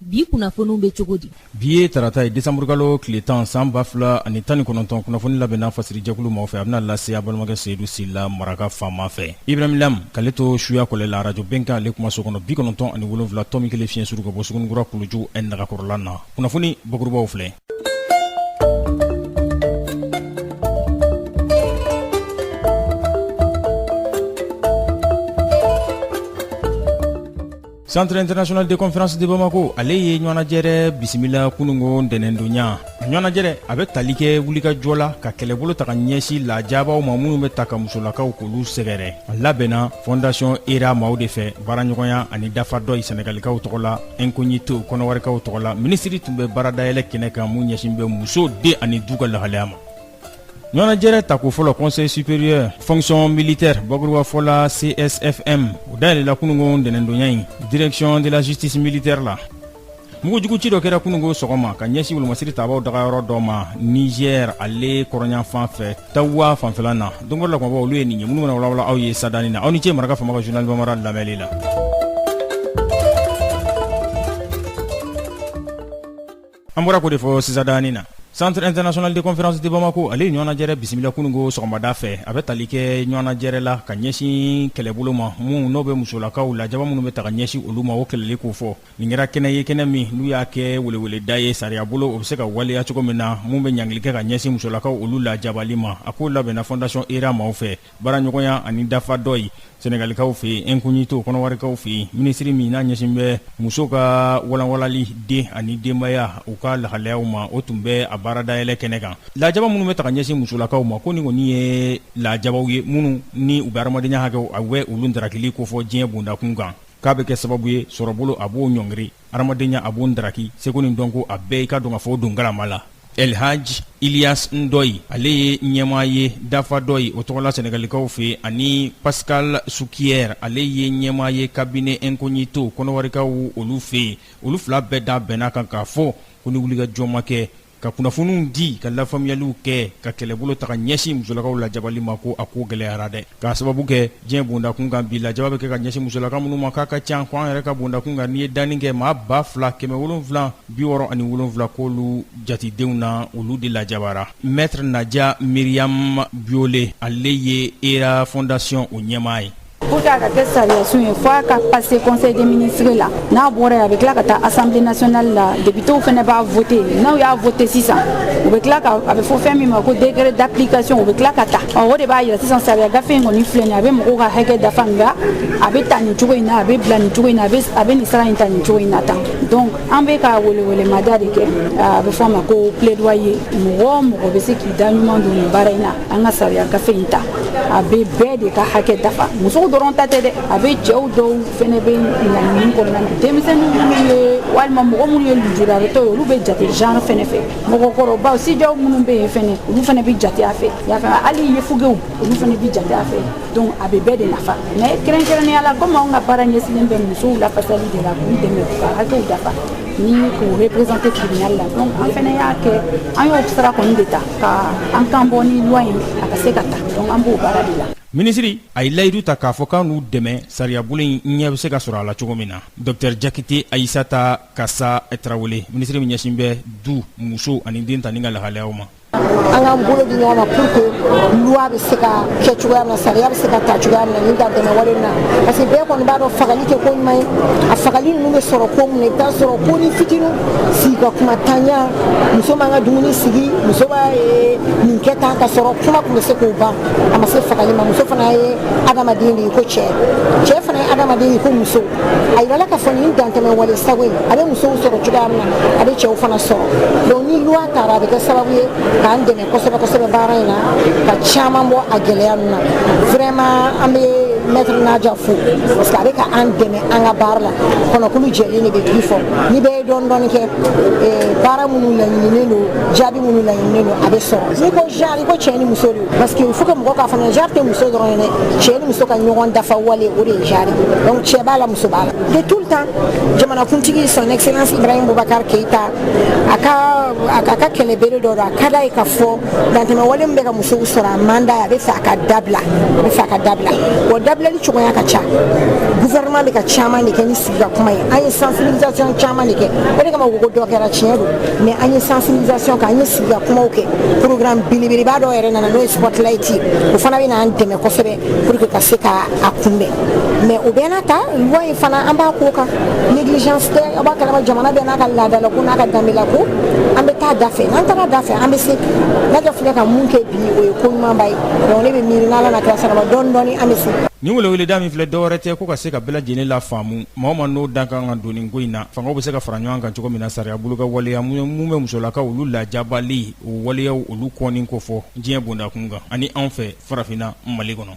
bi kunnafoniw bɛ cogo di bi ye tarata ye desanburukalo tile tan san ba fila ani tan ni kɔnɔntɔn kunnafoni labɛnna fasirijɛkulu maaw fɛ a bɛna lase a balimakɛ seyidu sila maraka faama fɛ ibrahim lam k'ale to suya kɔlɛ la arajo bɛnkan ale kumaso kɔnɔ bi kɔnɔntɔn ani wolonwula tɔmi kelen fiɲɛ suru ka bɔ sugunikura kuluju ɛ nagakɔrɔla na kunnafoni bakurubaw filɛ Centre international de conférence de Bamako ale ye ɲɔnajɛrɛ bisimila kunungo ntɛnɛndonya ɲɔnajɛrɛ a bɛ tali kɛ wulikajɔ la ka kɛlɛbolo ta ka ɲɛsin lajaabaw ma minnu bɛ ta ka musolakaw k'olu sɛgɛrɛ a labɛnna fondation Hera maaw de fɛ baaraɲɔgɔnya ani Dafadoy senegalikaw tɔgɔ la incognito kɔnɔwarikaw tɔgɔ la minisiri tun bɛ baaradayɛlɛ kɛnɛ kan mun ɲɛsin bɛ muso den ani du ka lahalaya ma ɲɔnajɛrɛ tako fɔlɔ conseil supérieur fonction militaire bakurubafɔ la csfm o dayɛlɛla kunungo ntɛnɛndonya in direction de la justice militaire la mugujuguci dɔ kɛra kunungo sɔgɔma ka ɲɛsi wolomasiri tabaw dagayɔrɔ dɔ ma Niger ale kɔrɔnyanfan fɛ tawuwa fanfɛla na donkɔrɔ la kumaba olu ye nin ye minnu bɛna walawala aw ye sadani na aw ni ce maraka fama ka journal bambara lamɛnli la an bɔra ko de fɔ sisadani na centre international de conférence de bamako ale ye ɲɔnajɛrɛ bisimila kunungo sɔgɔmada fɛ a bɛ tali kɛ ɲɔnajɛrɛ la ka ɲɛsin kɛlɛbolo ma mun n'o bɛ musolakaw lajaba minnu bɛ ta ka ɲɛsin olu ma o kɛlɛli ko fɔ nin kɛra kɛnɛ ye kɛnɛ min n'u y'a kɛ weleweleda ye sariya bolo o bɛ se ka waleya cogo min na mun bɛ ɲangili kɛ ka ɲɛsin musolakaw olu lajabali ma a ko labɛnna fondation Hera maaw fɛ baaraɲɔgɔnya ani Dafadoy senegalikaw fɛ yen incognito kɔnɔwarikaw fɛ yen minisiri min n'a ɲɛsin bɛ muso ka walanwalali den ani denbaya u ka lahalayaw ma o tun bɛ a baara dayɛlɛ kɛnɛ kan lajaba minnu bɛ ta ka ɲɛsin musolakaw ma ko nin kɔni ye lajabaw ye minnu ni u bɛ adamadenya hakɛw a bɛ olu ntarakili kofɔ diɲɛ bondakun kan k'a bɛ kɛ sababu ye sɔrɔbolo a b'o ɲɔngiri hadamadenya a b'o ndaraki seko ni dɔnko a bɛɛ i ka dɔn ka fɔ o don galama la El Hadj Ilyas Ndoye ale ye ɲɛmaa ye Dafadoy o tɔgɔla Senegalikaw fɛ yen ani Pascal Souquier ale ye ɲɛmaa ye cabinet incognito kɔnɔwarikaw olu fɛ yen olu fila bɛɛ da bɛnna a kan k'a fɔ ko ni wulikajɔ ma kɛ ka kunnafoniw di ka lafaamuyaliw kɛ ka kɛlɛbolo ta ka ɲɛsin musolakaw lajabali ma ko a ko gɛlɛyara dɛ k'a sababu kɛ diɲɛ bondakun kan bi lajaba bɛ kɛ ka ɲɛsin musolaka minnu ma k'a ka can ko an yɛrɛ ka bondakun kan n'i ye danni kɛ maa ba fila kɛmɛ wolonwula bi wɔɔrɔ ani wolonwula k'olu jatidenw na olu de lajabara maître Nadia Myriam Biouélé ale ye Hera fondation o ɲɛmaa ye Pour que a ka kɛ sariyasun ye fo a ka passé conseil des ministres la n'a bɔra yen a bɛ tila ka taa assemblée nationale la députés fana b'a voté n'u y'a voté sisan u bɛ tila ka a bɛ fɔ fɛn min ma ko décret d'application u bɛ tila ka ta ɔ o de b'a yira sisan sariya gafe in kɔni filɛ nin a bɛ mɔgɔw ka hakɛ dafa nka a bɛ ta nin cogo in na a bɛ bila nin cogo in na a bɛ nin sira in ta nin cogo in na tan donc an bɛ ka welewelemada de kɛ a bɛ fɔ a ma ko plaidoyer mɔgɔ o mɔgɔ bɛ se k'i da ɲuman don nin baara in na an ka sariya gafe in ta a bɛ bɛɛ de ka hakɛ dafa musow dɔrɔn ta tɛ dɛ a bɛ cɛw dɔw fɛnɛ bɛ genre nin kɔnɔna na denmisɛnnin minnu ye walima mɔgɔ minnu ye lujuratɔ ye olu bɛ jate genre fɛnɛ fɛ mɔgɔkɔrɔbaw sijanw minnu bɛ yen fɛnɛ olu fɛnɛ bɛ jate a fɛ y'a faamu hali yefugew olu fɛnɛ bɛ jate a fɛ donc a bɛ bɛɛ de nafa mais kɛrɛnkɛrɛnnenya la komi anw ka baara ɲɛsinnen bɛ musow lafasali de la k'u dɛmɛ k'u ka hakɛw dafa ni k'u représenter tribunal la donc an fɛnɛ y'a kɛ an y'o sira kɔni de ta ka an kan bɔ nin loi in a ka se ka ta donc an b'o baara de la minisiri a ye layidu ta k'a fɔ k'a n'u dɛmɛ sariyabolo in ɲɛ bɛ se ka sɔrɔ a la cogo min na dɔktɛr jakite ayisata kasa tarawele minisiri min ɲɛsin bɛ du muso ani den tali ka lahalayaw ma an k'an bolo di ɲɔgɔn ma pour que loi bɛ se ka kɛ cogoya min na sariya bɛ se ka ta cogoya min na nin dantɛmɛ wale na parce que bɛɛ kɔni b'a dɔn fagali tɛ ko ɲuman ye a fagali ninnu bɛ sɔrɔ ko mun na i bɛ t'a sɔrɔ konin fitinin sigi ka kuma tanya muso ma n ka dumuni sigi muso b'a eh, nin kɛ tan ka sɔrɔ kuma tun bɛ se k'o ban a ma se fagali ma muso fana ye adamaden de ye i ko cɛ cɛ fana ye adamaden ye i ko muso a yirala ka fɔ nin dantɛmɛ wale sago in a bɛ musow sɔrɔ cogoya min na a bɛ cɛw fana sɔrɔ donc ni loi tara a bɛ kɛ sababu ye k'an dɛmɛ kosɛbɛ kosɛbɛ baara in na ka caman bɔ a gɛlɛya ninnu na vraiment an bɛ maître nadia fo parce que a bɛ ka an dɛmɛ an ka baara la kɔnɔkulu jɛlen de bɛ tigi fɔ ni bɛɛ ye dɔɔni dɔɔni kɛ eh, baara minnu laɲininen don jaabi minnu laɲininen don a bɛ sɔrɔ n'i ko genre i ko cɛ ni muso de parce que il faut que mɔgɔ k'a faamu genre tɛ muso dɔrɔn ye dɛ cɛ ni muso ka ɲɔgɔn dafa wale o de ye genre donc cɛ b'a la muso b'a la de tout le temps jamanakuntigi son excellence ibrahim boubacar keita a ka a ka kɛlɛ bere dɔ don a ka d'a ye ka fɔ dantɛmɛwale min bɛ ka musow sɔrɔ a man d'a ye a bɛ fɛ a ka dabila a bɛ fɛ a ka dabila wa dabilali cogoya ka ca gouvernement bɛ ka caman de kɛ ni sigi ka kuma ye an ye sensibilisation caman de kɛ o de kama ko dɔ kɛra tiɲɛ don mais an ye sensibilisation kɛ an ye ka kumaw kɛ programme belebeleba dɔ yɛrɛ nana n'o ye spotlight ye o fana bɛ n'an dɛmɛ kosɛbɛ pour que ka se ka a kunbɛn mais o bɛɛ n'a ta loi in fana an b'a ko kan négligence tɛ aw b'a kalama jamana bɛɛ n'a ka laadalako n'a ka danbelako an bɛ taa da fɛ n'an taara da fɛ an bɛ se nadia filɛ ka min kɛ bi o ye ko ɲumanba ye donc ne bɛ miiri n'ala n'a kira sɔnn'a ma dɔɔni dɔɔni an bɛ se nin weleweleda min filɛ dɔwɛrɛ tɛ ko ka se ka bɛɛ lajɛlen lafaamu maa o maa n'o da ka kan ka don nin ko in na fangaw bɛ se ka fara ɲɔgɔn kan cogo min na sariya bolo ka waleya minnu bɛ musolakaw olu lajabali o waleyaw olu kɔni ko fɔ diɲɛ bondakun kan ani anw fɛ farafinna mali kɔnɔ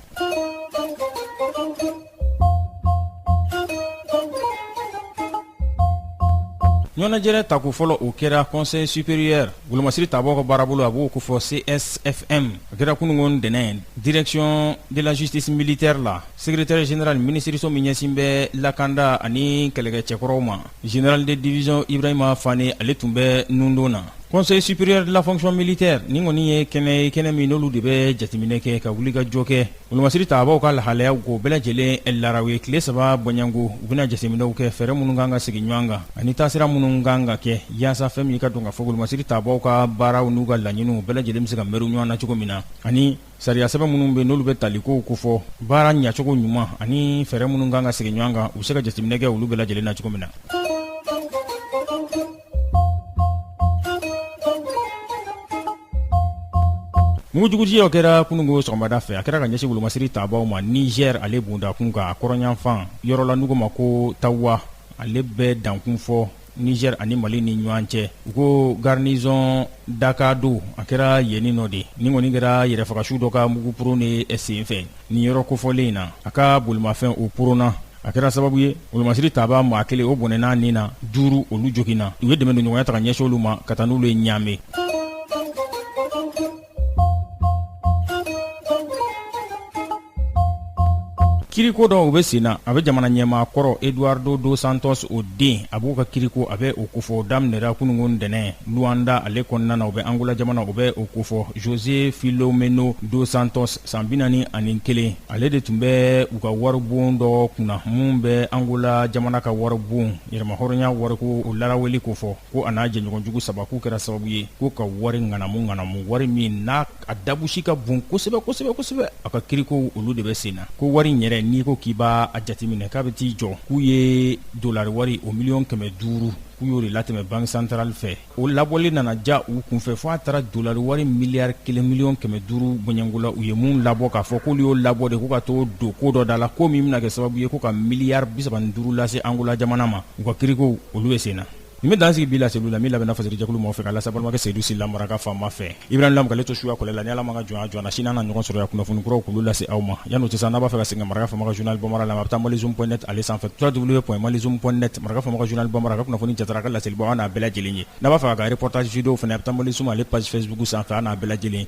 ɲɔnajɛrɛ tako fɔlɔ o kɛra conseil supérieur wolomasiri tabaw ka baara bolo a b'o ko fɔ csfm a kɛra kunungo ntɛnɛn direction de la justice militaire la secrétaire général minisiririso min ɲɛsin bɛ lakanda ani kɛlɛkɛ cɛkɔrɔw ma Général de division Ibrahima Fane ale tun bɛ nundon na conseil supérieur de la fonction militaire nin kɔni ye kɛnɛ ye kɛnɛ min n'olu de bɛ jateminɛ kɛ ka wuli ka jɔ kɛ wolomasiri tabaw ka lahalayaw k'o bɛɛ lajɛlen laraw ye tile saba bɔɲɛnko u bɛna jateminɛw kɛ fɛɛrɛ minnu kan ka sigi ɲɔgɔn kan ani taasira minnu kan ka kɛ yaasa fɛn min ye ka dɔn ka fɔ ko wolomasiri tabaw ka baaraw n'u ka laɲiniw bɛɛ lajɛlen bɛ se ka mɛru ɲɔgɔn na cogo min na ani Sariya sɛbɛn minnu bɛ n'olu bɛ talikow kofɔ baara ɲɛcogo ɲuman ani fɛɛrɛ minnu kan ka sigi ɲɔgɔn kan u bɛ se ka jateminɛ kɛ olu bɛɛ lajɛlen na cogo min na mugujuguci o kɛra kunungo sɔgɔmada fɛ a kɛra ka ɲɛsin wolomasiri tabaw ma Niger ale bondakun kan a kɔrɔnyanfan yɔrɔ la n'u k'o ma ko tawa ale bɛ dankun fɔ Niger ani Mali ni ɲɔgɔn cɛ u ko garnison d'Agando a kɛra yenni nɔ de nin kɔni kɛra yɛrɛfagasu dɔ ka mugu poron de senfɛ nin yɔrɔ kofɔlen in na a ka bolimafɛn o poronna a kɛra sababu ye wolomasiri tabaa maa kelen o bɔnɛna a ni na duuru olu joginna u ye dɛmɛndonɲɔgɔnya ta ka ɲɛsin olu ma ka taa n'olu ye Ɲame kiriko dɔw bɛ sen na a bɛ jamana ɲɛmaa kɔrɔ eduardo dos santos o den a b'o ka kiriko a bɛ o kofɔ daminɛra kununko ntɛnɛn luanda ale kɔnɔna na u bɛ angola jamana u bɛ o kofɔ jose filomeno dos santos san bi naani ani kelen ale de tun bɛ u ka waribon dɔ kunna min bɛ angola jamana ka waribon yɛrɛmahɔrɔnya wariko o laraweli kofɔ ko a n'a jɛɲɔgɔnjugu saba k'u kɛra sababu ye ko ka wari ŋanamu ŋanamu wari min n'a a dabusi ka bon kosɛbɛ kosɛbɛ kosɛbɛ a ka kirikow olu de bɛ sen na ko wari in yɛrɛ n'i ko k'i b'a a jateminɛ k'a bɛ t'i jɔ k'u ye dolari wari o miliyɔn kɛmɛ duuru k'u y'o de latɛmɛ banki santarali fɛ o labɔli nana ja u kunfɛ fo a taara dolari wari miliyari kelen miliyɔn kɛmɛ duuru bɔɲɛnko la u ye mun labɔ k'a fɔ k'olu y'o labɔ de ko ka t'o don ko dɔ da la ko min bɛna kɛ sababu ye ko ka miliyari bisaba ni duuru lase angola jamana ma u ka kirikow olu bɛ sen na Nin bɛ dan sigi bi laseliw la min labɛnna fasarijɛkulu mɔgɔw fɛ ka lase balimakɛ Seyidu Sila Maraka faama fɛ, Ibrahim Lam k'ale to suya kɔlɛ la, ni Ala ma an ka jɔnya jɔ an na, sini an na ɲɔgɔn sɔrɔ yan kunnafoni kuraw k'olu lase aw ma, yanni o cɛ sa, n'a b'a fɛ ka segin ka maraka faama ka journal bambara lamɛn, a bɛ taa malizoom point net ale sanfɛ www.malizoom.net maraka faama ka journal bambara, a ka kunnafoni jatara, a ka laselibaw, a n'a bɛɛ lajɛlen ye, n'a b'a fɛ k'a ka reportage video fana, a bɛ taa malizoom ale page facebook sanfɛ, a n'a bɛɛ lajɛlen